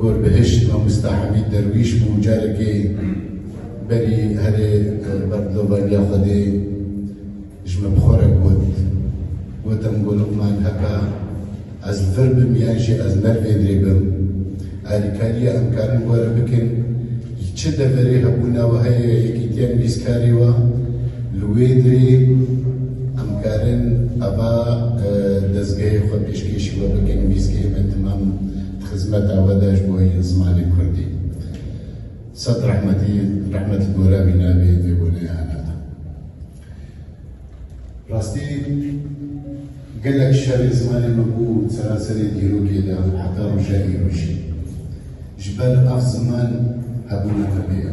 Gorbihişt Mamosta Hemîd Derwîş bû carekê berî herê ber dilovaviya Xwedê ji min bixorek got. Gotim ku Luqman heke ez li vir bim yan jî ez mervênrê bim, alîkariya em karin gore bikin ji çi deverê hebûna wiha ya yekîtiyan bîst karê wa, li wê dirê em karin ava dezgehê xwe pêşkêşî we bikin bîst km timam Xizmeta we de ji bo zimanê kurdî sed rehmetî rehmet li gora wî nebe vê wêneyê hena din. Rastî gelek şerê zimanê me bû seranserê dîrokê de û heta roja îro jî. Ji ber ev ziman hebûna me pê ye.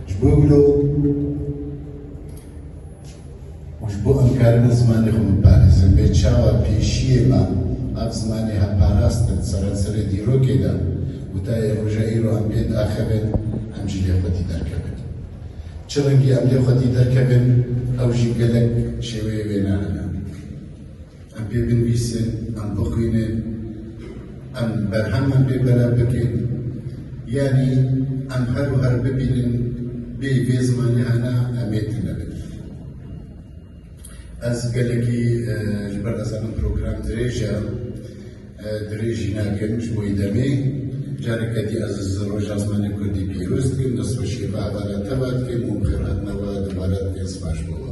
Ji bo wilo û ji bo em karibin zimanê xwe biparêzin lê çawa pêşiyê me nav zimanê hev parast bin seranserê dîrokê de û ta yê roja îro em pê diaxivin em jî lê xwedî derkevin. Çi rengî em lê xwedî derkevin ew jî gelek şêweyê wê ne hene. Em pê binivîsin, em bixwînin, em berheman pê belav bikin, yanî em her û her bibînin bêyî vê zimanê hene em ê tune bin. Ez gelekî ji ber ez zanim program dirêj e, dirêj jî nakim ji bo demê. Careke dî ez ji Roja Zimanê Kurdî pîroz dikim, destxweşiyê bi hevala te ve dikim û bi xêr hatina we dubare dikim. Sipar ji bo we.